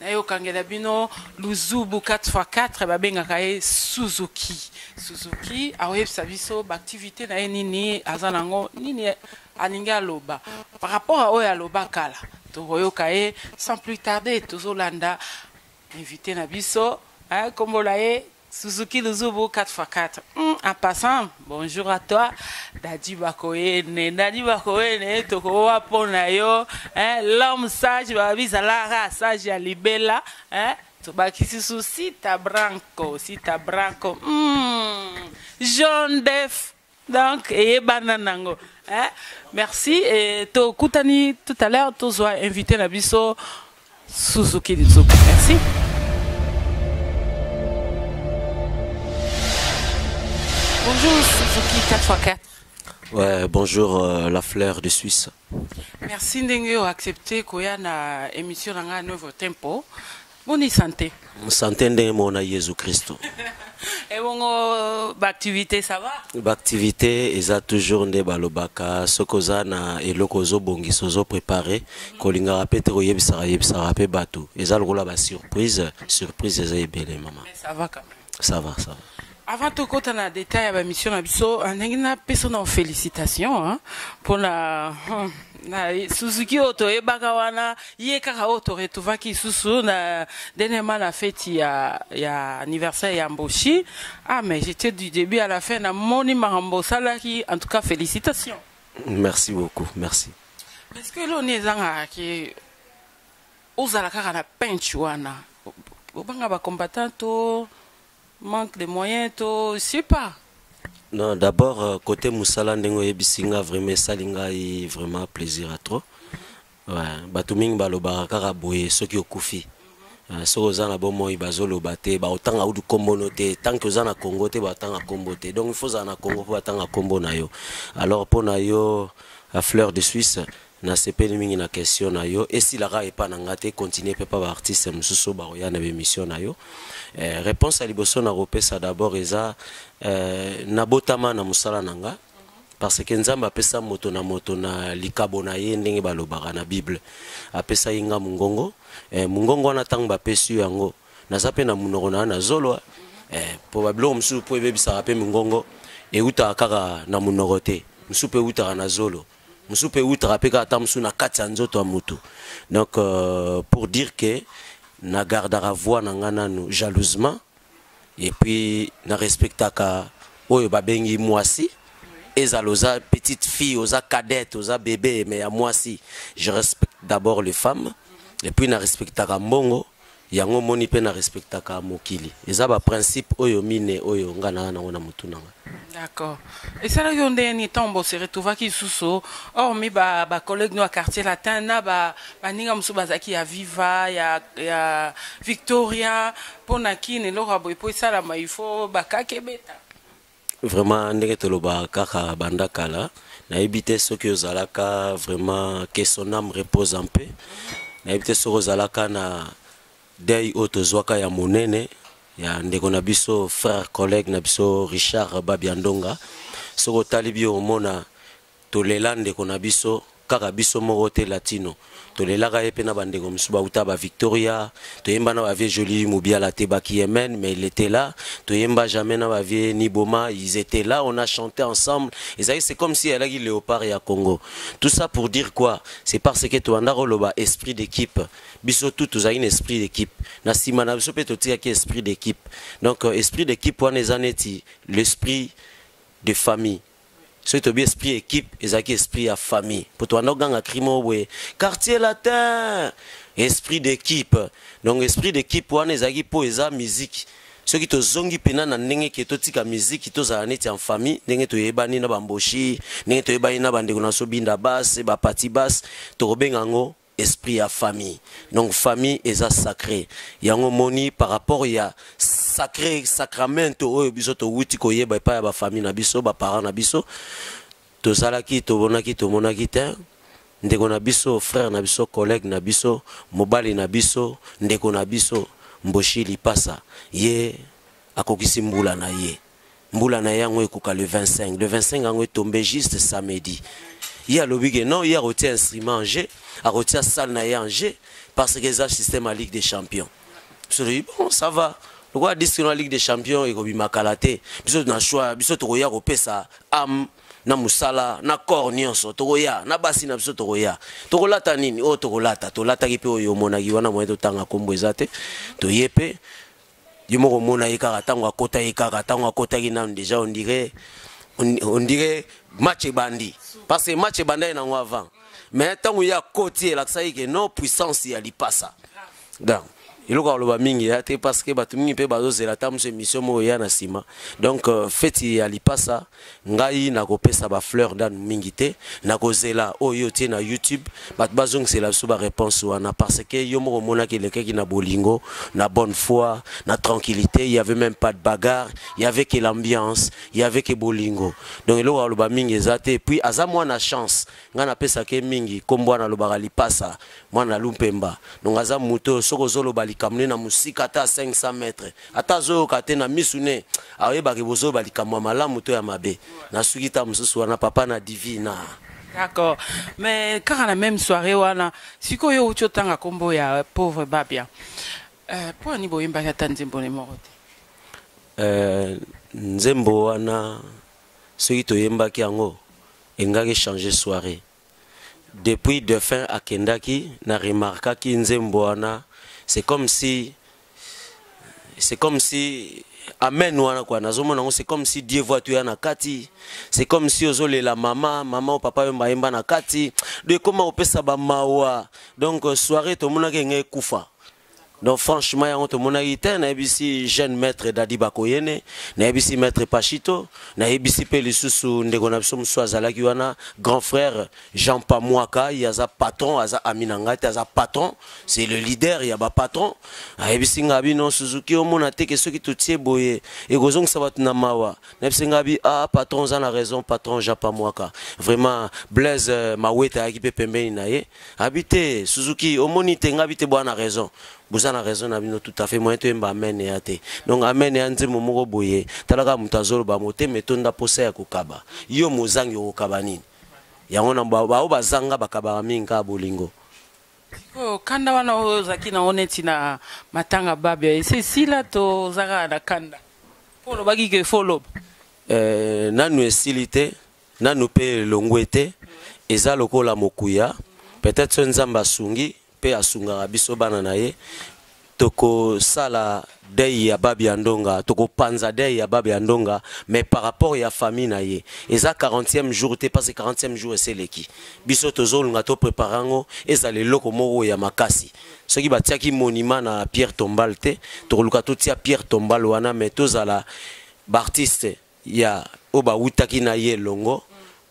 nayokangela bino luzubu 4x4 babengaka ye suzuki suzuki akoyebisa biso baaktivité na ye nini aza nango nini alingi aloba par rapport a oyo aloba kala tokoyoka ye sans plus tarder tozolanda invité na biso kombola ye Suzuki Luzubu 4x4. Hmm, en passant, bonjour à toi. Dadi Bakoyene, Dadi Bakoyene, Tokowa Ponayo, hein, l'homme sage, Babizalara, sage à Libella, hein, Tobakisi sous Sita Branco, Sita Branco, hmm, John Def. donc eyebana nango eh? merci et tokutani tout à l'heure tozwa invité na biso suzuki lizuku merci bonjour suzuki 4x4 Ouais, bonjour euh, la fleur de Suisse. Merci Ndenge accepté koya na émission na nga Nouveau Tempo. Boni santé Santé ndenge mona Yesu Kristo. Et bon, euh, bah, activité, ça va B'activité eza toujours nde balobaka soki oza na eloko ozobongisa ozoprépare kolingaka mpe te koyebisaka yebisaka mpe bato eza lokola basurprise surprise eza ebele mama Ça va quand même. ça va ça va avant tout tokota na détail ya bamission na biso ah, ndenge napesa na félicitation hein, pour la hmm, na suzuki oyo toyebaka wana ye kaka oyo toretuvaki lisusu na denema na feti ya, ya anniversaire ya mboshi ah mais j'étais du début à la fin na moni makambo osalaki en tout cas félicitation merci beaucoup merci est ce que loni ezangaka ke Ozala kaka na penche wana obanga ba combattant to manque de moyen to sais pas non d'abord euh, côté musala ndenge oyebisi nga vraiment esali ngai vraiment plaisir à trop ouais. bato mingi balobaka kaka boye soki okufi euh, soki oza na bomoi bazoloba te baotanga udu nkombo no te tanke oza na congo te batanga nkombo te donc ifo ozala na congo mpo batanga nkombo na yo alors mpo na yo à fleur de suisse Nasepeli mingi na question na yo. Esila kaka epa na nga te, continuer pe pa ba artistes mosusu oyo bakoya na ba emissions na yo. Eh, reponse ya liboso nakopesa d'abord eza eh, nabotama na mosala na nga parce que nzambe apesa moto na moto na likabo na ye ndenge balobaka na bible apesaki nga mongongo eh, mongongo wana ntango bapesi yo yango naza mpe na monoko na na zolo eh, mpo babiloko mosusu mpo ebebisaka mpe mongongo eutaka kaka na monoko te mosusu mpe eutaka na zolo mosusu mpe eutaka mpe kaka ata mosusu na kati ya nzoto ya motu donc euh, pour dire que na gardaka voix na ngai nanu jalousement et puis na respectaka oyo babengi mwasi ezala oza petite fille oza cadette oza bebe mais ya mwasi je respecte d'abord les femmes et puis na respectaka mbongo yango omoni mpe na respectaka mokili eza baprincipe oyo mine oyo nga naa nango na motu na nga d'accord esalaki yo ndenge nini ntango bose retrouvaki lisusu hormi bacollègue no ya quartier latin na baninga mosusu bazalaki ya viva ya, ya victoria mpo na kini eloko ya boye mpo esalama il faut bakaki ebeta vraiment ndenge toloba kaka banda kala nayebi te soki ozalaka vraiment que son âme repose en paix nayebi te soki ozalaka na deuil oyo tozwaka ya monene ya ndeko na biso frère collègue na biso richard babiandonga soki otali bi omona Tolela ndeko na biso kaka biso moko te latino tolelaka ye pe na ba ndeko misusu ba wuta ba victoria toyemba na ba vieux jolie mubiala te ba kiemen mais il etait là toyemba jamais na ba vieux niboma ils etait là on a chante ensemble ezalaki c'est comme si alaki leopard ya congo tout ça pour dire quoi c'est par ce que tobanda ko loba esprit d'equipe biso tout tozalaki na esprit d'equipe na sima na biso pe totikaki esprit d'equipe donc esprit d'equipe wana eza neti l'esprit de famille soki tobi esprit ya équipe ezalaki esprit ya famille mpo tobanda koganga cri moko boye quartier latin esprit d'équipe donc esprit d'équipe wana ezalaki mpo eza miziki soki tozongi mpena na ndenge ke totika miziki tozala neti en famille ndenge toyebani na bamboshi ndenge toyebani na bandeko na so binda base bapati base tokobenga yango esprit ya famille donc famille eza sacré yango moni par rapport ya sacré sacramento oyo biso towuti koyeba epai ya bafamille na biso baparent na biso tozalaki tobonaki tomonaki te ndeko na biso frère na biso collègue na biso mobali na biso ndeko na biso mboshi lipasa ye akokisi mbula na ye mbula na ye yango ekoka le 25 le 25 yango etombe juste samedi ye alobi ke non ye akotia instrument en jeu akotia salle na ye en jeu parce que eza système ya ligue des champions solobi bon ça va lokola disque na ligue des champions ekobima kala te biso na choix biso tokoya kopesa ame na mosala na corps nyonso tokoya na basi na biso tokoya tokolata nini oyo oh, tokolata tolataki mpe oyo omonaki wana moye totanga nkombo eza te toye mpe yo moko omona ye kaka ntango akota ye kaka ntango akotaki nanu deja ondire ondire match ebandi parce que match ebandaki nango avant mais ntango ye akoti elakisaki ke non puissance ya lipasa donc eloko aloba mingi ya te parce que bato mingi mpe bazozela ata mosu émission moko eya na nsima donc euh, feti ya lipasa ngai nakopesa ba fleur ndanu mingi te nakozela oyo yo otie na youtube bato bazongisela biso ba réponse wana parce que yo moko omonaki elekaki na bolingo na bonne foi na tranquillité il y avait même pas de bagarre il y avait que l'ambiance il y avait que bolingo donc eloko aloba mingi eza te puis aza mwana chance ngai napesaka ye mingi nkombo wana alobaka lipasa mwana lumpemba donc aza moto soki ozoloba likambo ne na mosika ata 500 mètres ata azoyoka te na misu ne akoyebaka bozoba likambo ya malamu to ya mabe nasuki ta mosusu wana papa na divina d'accord mais kaka na même soirée wana sikoyo yo uti otanga nkombo ya pauvre babia euh, mpo ani boyembaki ata nzembo ne moko te euh, nzembo wana soki toyembaki yango engaki changer soirée depuis defunt akendaki na remarkaki nzembo wana c'est comme si c'est comme si amen wana kwa nazomona yango c'est comme si dieu voit toya na kati c'est comme si ozolela mama mama o papa yo mbayemba na kati do ekoma kopesa bamawa donc soirée tomonaki enge ekufa donc franchement yango tomonaki te nayebisi jeune maître dadi bakoyene nayebisi maître pachito nayebisi mpe lisusu ndeko na biso mosusu azalaki wana grand frère jean pamwaka ye aza patron aza ami na ngai te aza patron c'est le leader ya bapatron ayebisi ngai bino suzuki omona teke soki totie boye ekozongisa bato na mawa nayebisi ngai bi ah patron oza na raison patron jean pamwaka vraiment blaise euh, mawete ayaki mpe pembeni na ye Abi te Suzuki omoni te ngabi te bwana raison boza na raison na bino tout à fait moyen toyemba amen ya te donc amen ya nzembo moko boye talaka moto azoloba motema etonda mposa ya kokaba yo mozangi okokaba nini yango na baoyo bazanga bakabaka mingi kaka bolingo sikoyo kanda wana oyo ozalaki nango neti na matanga babia esi esila tozaka na kanda mpo olobaki ke fo oloba eh, nanu esili te nanu mpe elongwe te eza lokola mokuya peut-être soki nzambe asungi mpe asungaka biso bana na ye tokosala dei ya babi ya ndonga tokopanza dei ya babi ya ndonga mais par rapport ya famille na ye eza 40e jour te parce 40e jour eseleki biso tozolunga toprépare yango ezala eloko moko ya makasi soki batiaki monument na pierre tombal te tokoluka totia pierre tombal wana mais tozala baartiste ya oyo bawutaki na ye elongo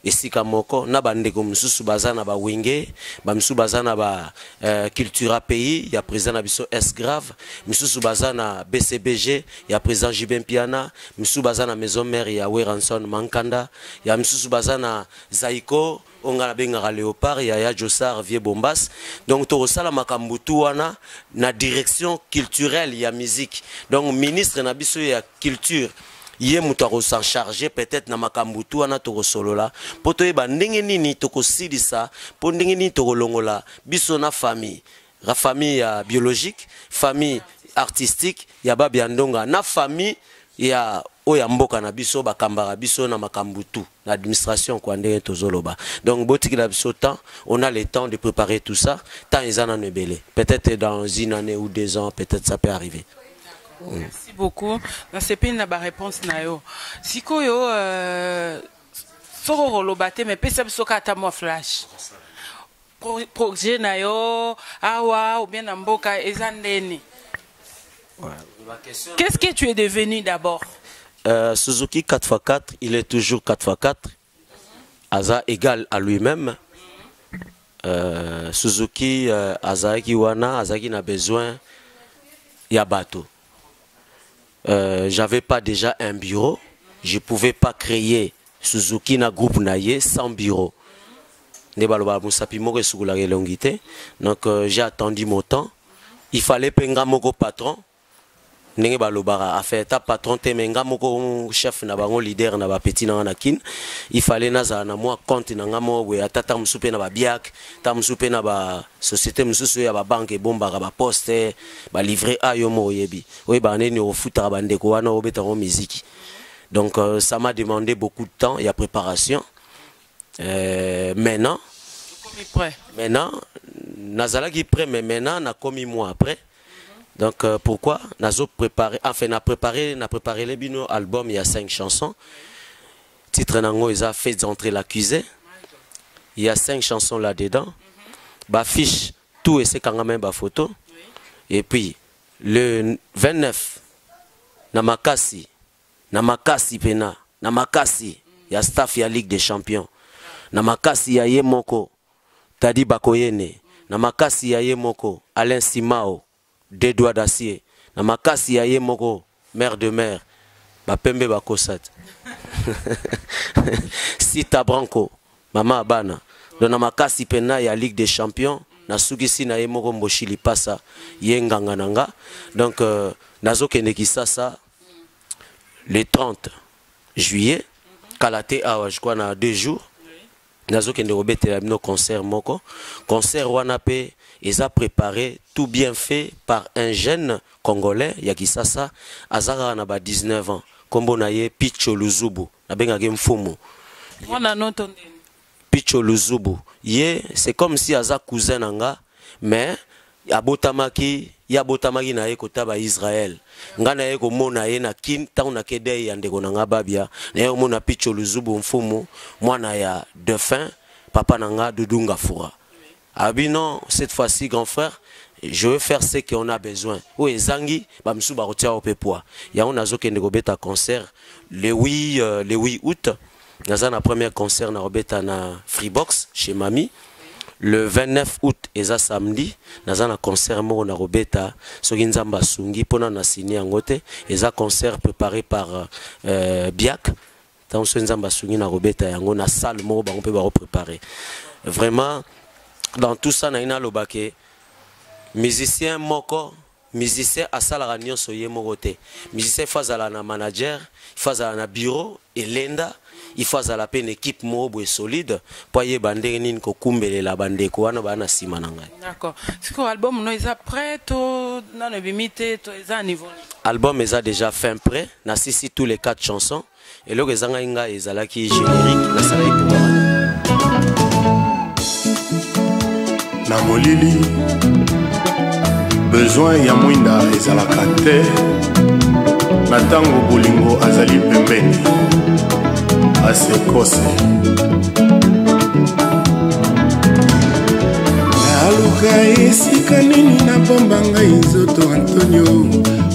esika moko na bandeko mosusu baza na bawenge bamisusu baza na ba uh, cultura pays ya président na biso s grave misusu baza na bcbg ya président jube mpiana misusu baza na maison mare ya weranson mankanda ya misusu baza na zaiko oyo ngai nabengaka leopard yaya josar vieux bombas donc tokosala makambo tu wana na direction culturelle ya musique donc ministre na biso ya culture ye moto akosan charge peut-être na makambo tu wana tokosolola mpo toyeba ndenge nini tokosilisa mpo ndenge nini tokolongola biso na famille la famille ya biologique famille artistique ya babi ya ndonga na famille ya oyo ya mboka na biso bakambaka biso na makambo tout na administration kua ndenge tozoloba donc botikela biso temps on a le temps de préparer tout ça temps eza nano ebele peut-être dans une année ou deux ans peut-être ça peut arriver mm. merci beaucoup nasepeli na baréponse na yo sikoyo euh, soko koloba te mais pesa biso kaka ata mwa flash pro, projet na yo awa ou bien na mboka eza ndeni qu'est-ce que tu es devenu d'abord euh, suzuki 4x4 il est toujours 4x4 aza égal à lui-même euh, suzuki euh, azalaki wana azalaki na besoin ya bato Euh, j'avais pas déjà un bureau, je pouvais pas créer Suzuki na groupe na ye sans bureau. Nde baloba musapi moko esukolaka elongi te. Donc euh, j'ai attendu mon temps. Il fallait pe nga moko patron. ndenge balobaka afin ata patron te me nga moko chef na bango leader na bapeti nanga na kin il fallait nazala na mwa compte na nga moko boye ata ta mosusu mpe na babiak ta mosusu mpe na ba, ba société mosusu oyo ya babanke ebombaka baposte balivre a yo moko oyebi oyebaka ndeni ofutaka bandeko wana obeta yango miziki donc euh, ça m'a demandé beaucoup de temps ya préparation euh, maintenant maintenant nazalaki prêt mais maintenant nakomi moi après donc euh, pourquoi nazo préparé enfin na préparé na préparé les bino album il y a cinq chansons Titre nango eza Faites entrer l'accusé. Il y a cinq chansons là-dedans. Ba fiche tout et c'est quand même ba photo. Et puis le 29 na makasi na makasi pena na makasi ya staff ya Ligue des Champions na makasi ya ye moko Tadi Bakoyene na makasi ya ye moko Alain Simao Deux doigts d'acier na makasi ya ye moko mère de mère ba pembe ba kosat. Sita Branco mama abana donc na makasi pena ya Ligue des Champions nasukisi na ye moko mboshi lipasa ye nganga na nga donc euh, nazokende kisasa le 30 juillet kala te awa je crois na deux jours nazokende kobetela bino concert moko concert wana pe eza prepare tout bien fait par un jeune congolais ya kisasa aza kaka na ba 19 ans nkombo na ye picho luzubu nabengaki mfumu picho luzubu ye c'est comme si aza cousin na nga mais abotamaki ye abotamaki na ye kota baisraele ngai naye komona ye na kin ntango nake dei ya ndeko na ngai babia naye komona picho luzubu mfumu mwana ya defin papa na ngai dudunga fura abi non cette fois ci grand frère je veux faire ce qu'on a besoin oyo ezangi bamosusu bakotia yo mpe poids yango nazokende kobeta concert le 8 euh, le 8 août naza na première concert na kobeta na Freebox chez Mami le 29 août eza samedi naza na concert moko na kobeta soki nzambe asungi mpona na sini yango te eza concert préparé par euh, biak ntango soki nzambe asungi na kobeta yango na salle moko bango mpe bakoprépare vraiment dans tout ça naye naloba ke musicien moko musicien asalaka nyonso ye moko te musicien ifo azala na manager ifo azala na bureau elenda ifo azala mpe na équipe moko boye solide mpo ayeba ndenge nini kokumbelela bandeko wana baa na nsima na ngai d'accord sikoyo album no eza prêt to nano ebimi te to eza niveau album eza déjà fin prêt na sisi tous les quatre chansons eloko ezangaki ngai ezalaki générique nasalaki mpoka na molili besoin ya mwinda ezalaka te na ntango bolingo azali pembeni asekose naluka esika nini nabomba ngai nzoto antonio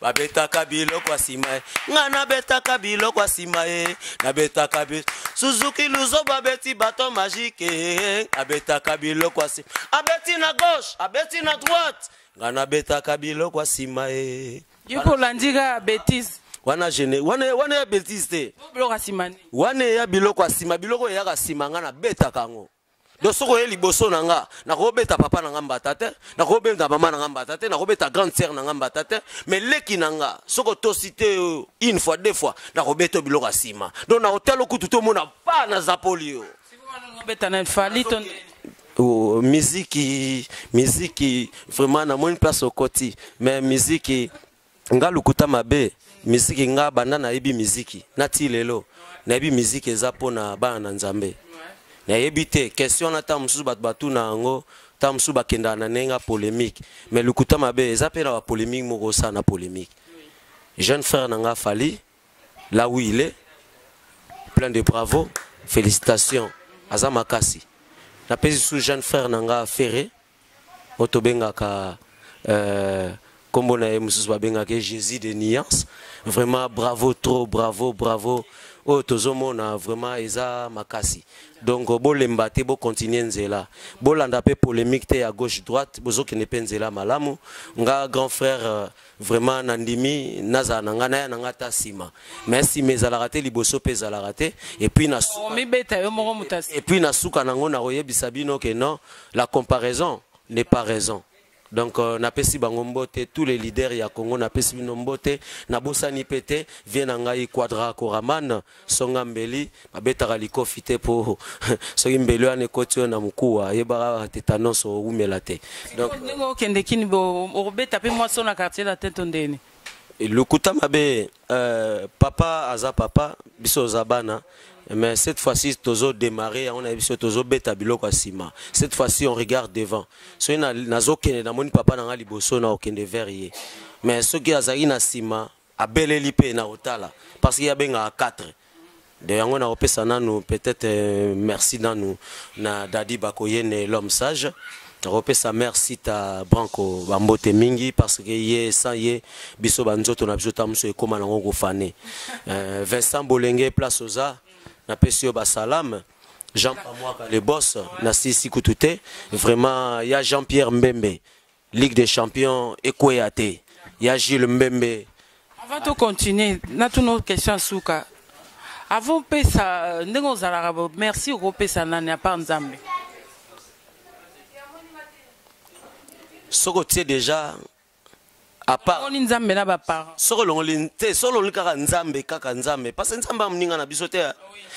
babetaka biloko ya nsima ye ngai nabetaka biloko ya nsima ye nabetaka bi suzuki luzo babeti bato magike abetaka biloko ya nsima abeti na gauche abeti na droite ngai nabetaka biloko ya nsima ye yokolandika betise wana gene wana wana ya betise te wana ya biloko ya nsima biloko eyaka nsima ngai nabetaka yango donc soki oye liboso na nga nakobeta papa na nga mbata te nakobeta mama na nga mbata te nakobeta grande sœur na nga mbata te mais leki na nga soki otosi te euh, une fois deux fois nakobeta yo biloko ya nsima donc na hotelo kutu tomona pa na zapoli yo oh, miziki miziki vraiment namoni place okoti mais miziki nga lokuta mabe miziki nga banda nayebi miziki na ti lelo nayebi miziki eza mpo na bana na nzambe nayebi te question wana ntango mosusu bato batuna yango ntango mosusu bakendaka na ndenge ya polémique mais lokuta mabe eza mpe na bapolémique moko osala na polémique jeune frère na nga fali là où il est plein de bravo félicitations aza makasi napesi su jeune frère na nga ferre oyo tobengaka euh, kombo na ye mosusu babengaka ye jésus de nuance vraiment bravo trop bravo bravo oyo tozomona vraiment eza makasi donc bolemba te bocontinue nzela bolanda mpe polémique te ya gauche droite bozokende mpe nzela malamu nga grand frère euh, vraiment nandimi nazala na ngai naya na ngai ata nsima mais nsima ezalaka te liboso mpe ezalaka te epuis na suka nango nakoyebisa bino ke non la comparaison n'est pas raison donc euh, napesi bango mbote tous les leaders ya congo napesi bino mbote nabosani mpe te vie na ngai quadra coraman songa mbeli babetaka likofi te mpo soki mbeli wana ekoti oyo na mokuwa ayebaka tetanos owumela te donc ndenge okende kini okobeta mpe mwasi na quartier latin to ndeni lokuta mabe euh, papa aza papa biso oza bana mais cette fois-ci tozo démarrer yango na biso tozo beta biloko ya nsima cette fois-ci on regarde devant soki nazokende namoni papa na ngai liboso na okende vers ye mais soki azalaki na nsima abeleli pe na otala parce que abengaka 4 de yango na opesa nanu peut-être euh, merci nanu na dadi bakoyene l'homme sage nakopesa merci ta branco bambote mingi parce que ye sans ye biso banzoto na biso ta mosusu ekóma nango kofane euh, vincent bolenge place oza napesi yo basalame jean pamwaka le boss nasilisi kutu te vraiment ya jean pierre mbembe Ligue des champions ekweya te ya Jules Mbembe. Avant to continuer, na tuno question suka. Avant pesa ndenge ozalaka bo merci ko pesa nani à part Nzambe. Soko tie déjà à part Longoli Nzambe na ba parents. Soko longoli te solo longoli kaka Nzambe kaka Nzambe parce que Nzambe amuninga na biso te.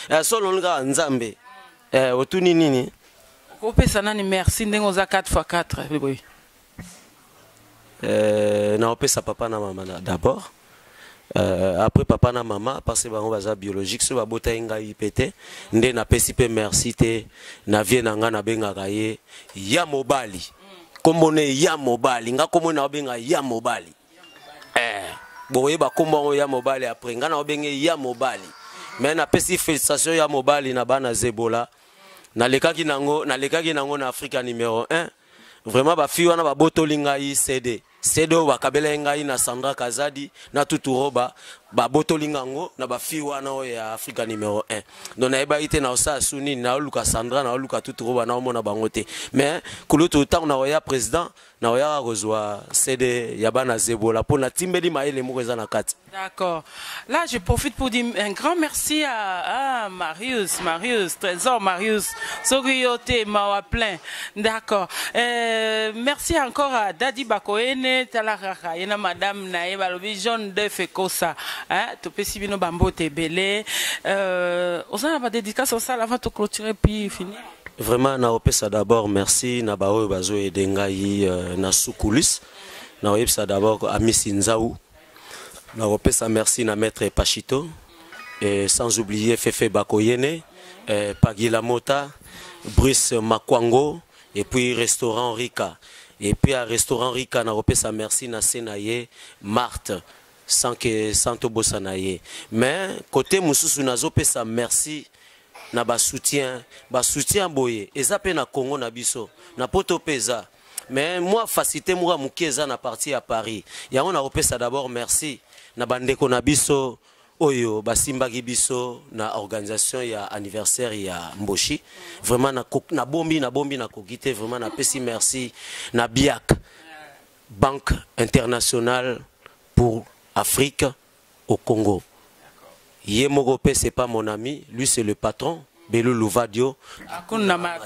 Eh solo longoli kaka Nzambe. Eh otuni nini? Okopesa nani merci ndenge oza 4 fois 4 boye? Euh, naopesa papa na mama d'abord. Euh, après papa na mama parce que bango baza biologique soki babotaki ngai mpe te nde napesi mpe merci te na vie na ngai nabengaka ye ya mobali nkombo ne ya mobali ngai nkombo naobenga ya mobali eh, bokoyeba nkombo yango ya mobali après ngai naobenge ya mobali me napesi félicitation ya mobali na bana zebola nalekaki nango nalekaki nango na afrika numero 1 vraiment bafi wana babotoli ngai cd cd oyo bakabelai ngai na sandra kazadi na tuturoba babotoli ngai yango na bafi wana oyo ya afrika numero 1 don nayebaki te naosala su nini naoluka sandra naoluka tuturoba naomona bango te mais kulutu ntango nakoya président nakoyaka kozwa cd ya bana zebola mpo natimbeli mayele moko eza na kati D'accord. Là, je profite pour dire un grand merci à, Marius, Marius, Trésor Marius, Sogriyote, Mawa plein. D'accord. Euh, merci encore à Daddy Bakoene, Talaraka, Yena Madame Nae, Balobi, John De Fekosa, hein, Topesi Bino Bambo Tebele. Euh, on s'en a pas dédicace, on s'en avant de clôturer puis finir. Vraiment, na opesa d'abord merci na baoyo bazo edengai euh, na sous coulisses. Na opesa d'abord à Miss Nzaou. nakopesa merci na maître pachito et sans oublier fefe bakoyene eh, pagila mota bruce makwango et puis restaurant rika et puis à restaurant rika nakopesa merci na se na ye marthe sans que sans tobosana ye mais côté mosusu nazopesa merci na basoutien basoutien boye eza mpe na congo na biso na poto mpe eza mais moi facilité moko ya moke eza na partie ya paris yango nakopesa d'abord merci na bandeko na biso oyo basimbaki biso na organisation ya anniversaire ya mboshi vraiment nabombi nabombi nakoki te vraiment napesi merci na biak banque internationale pour afrique au Congo. Ye moko pe c'est pas mon ami, lui c'est le patron. Belu Louvadio,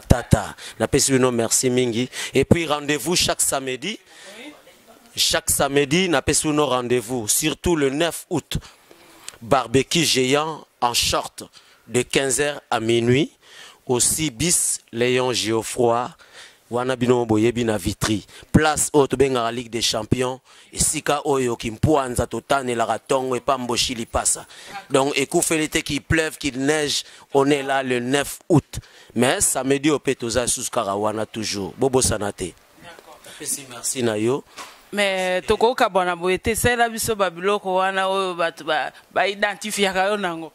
Tata, na pesi bino merci mingi. Et puis rendez-vous chaque samedi, chaque samedi na pesi bino rendez-vous, surtout le 9 août, barbecue géant en short de 15h à minuit, aussi bis Léon Geoffroy, wana bino boyebi na vitri place oyo tobengaka ligue des champions esika oyo kimpuanza totanelaka ntongo epa mboshi lipasa donc ekufeli te qu'il pleuve qu'il neige on est là le 9 août mais samedi oyo mpe toza lisusu kaka wana toujours bobosana te napesi merci na yo me tokokabwana boye te salela biso babiloko wana oyo bato baidentifiaka yo nango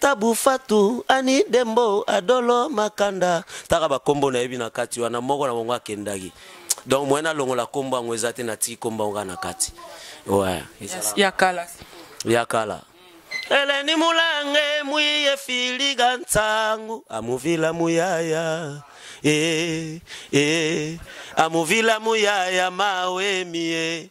Tabu Fatu, Ani Dembo, Adolo Makanda. Taka ba kombo na yebi na kati wana moko na bango akendaki. Donc moyen na longola kombo yango eza te na ti kombo yango na kati. Ouais, ezala. Ya kala. Ya kala. Eleni mulange muye filiga nsangu amuvila muyaya eh, eh, amuvila muyaya mawe mie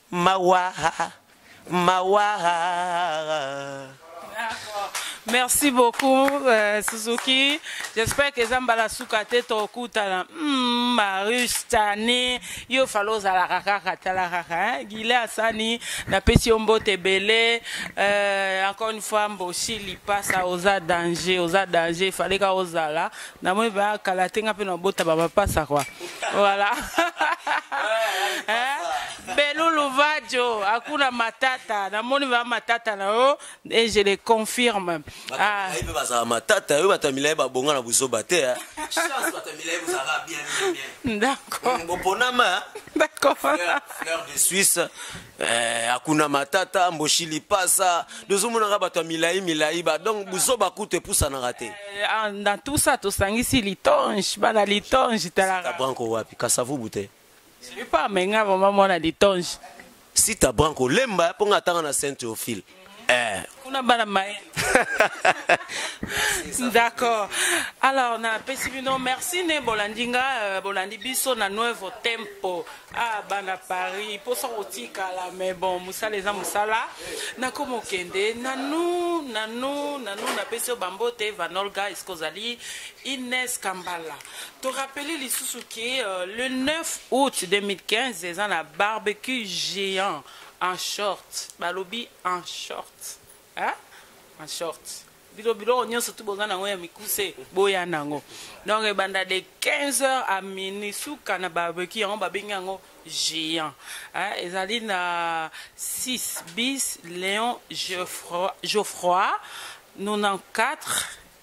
Mawaha, mawaha. Merci beaucoup euh, Suzuki. J'espère que Zambala Soukate Tokutana. Hmm, Marius Tani, yo falo zalaka kaka talaka hein. Gile Asani na pesi ombo tebele. Euh, encore une fois Mboshi Lipasa oza danger, oza danger. Fallait ka ozala na moi ba kala te nga mpe na bota ba mapasa kwa voilà eh, belulu vadio hakuna matata namoni ba matata na yo et je le confirme ah. mpe bazala matata yo bato ya milai babonga na buzoba te eh. d'accord de suisse Eh, akuna matata mboshi lipasa tozomonaka bato ya milai milai ba donc buzoba kutu epusanaka te eh, ah, na tout ça tosangisi litonge bana litonge talaka branko wapi kasavubu te epa amenga vraimen mwana litonge sita branko lemba mpo nga atanga na saint théophile eh. kuna bana maye d'accord alors napesi bino merci ne bolandi nga euh, bolandi biso na nuevo tempo ah bana paris mposa kotikala mais bon mosala eza mosala nakoma okende nanu nanu nanu napesi yo bambote vanolga eske ozali ines kambala torapele lisusu ke euh, le 9 août 2015 eza na barbecue géant en short balobi en short hein? en short bino biloko nyonso tu boza nango ya mikuse boya nango donc ebanda de 15 heures à minuit suka na barbecue yango babengi yango géant hein? ezali na 6 bis léon geoffroy 94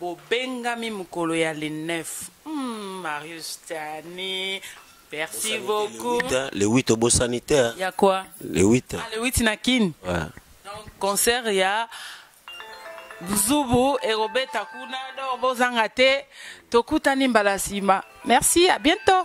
Bobengami mokolo ya le 9. Hmm, Marius Tani. Merci beaucoup. Le 8 obo sanitaire. Ya quoi? Le 8. Ah, le 8 na Kin. Ouais. Donc concert ya Zubu et Robert Takuna donc bozanga te tokutani mbala sima. Merci, à bientôt.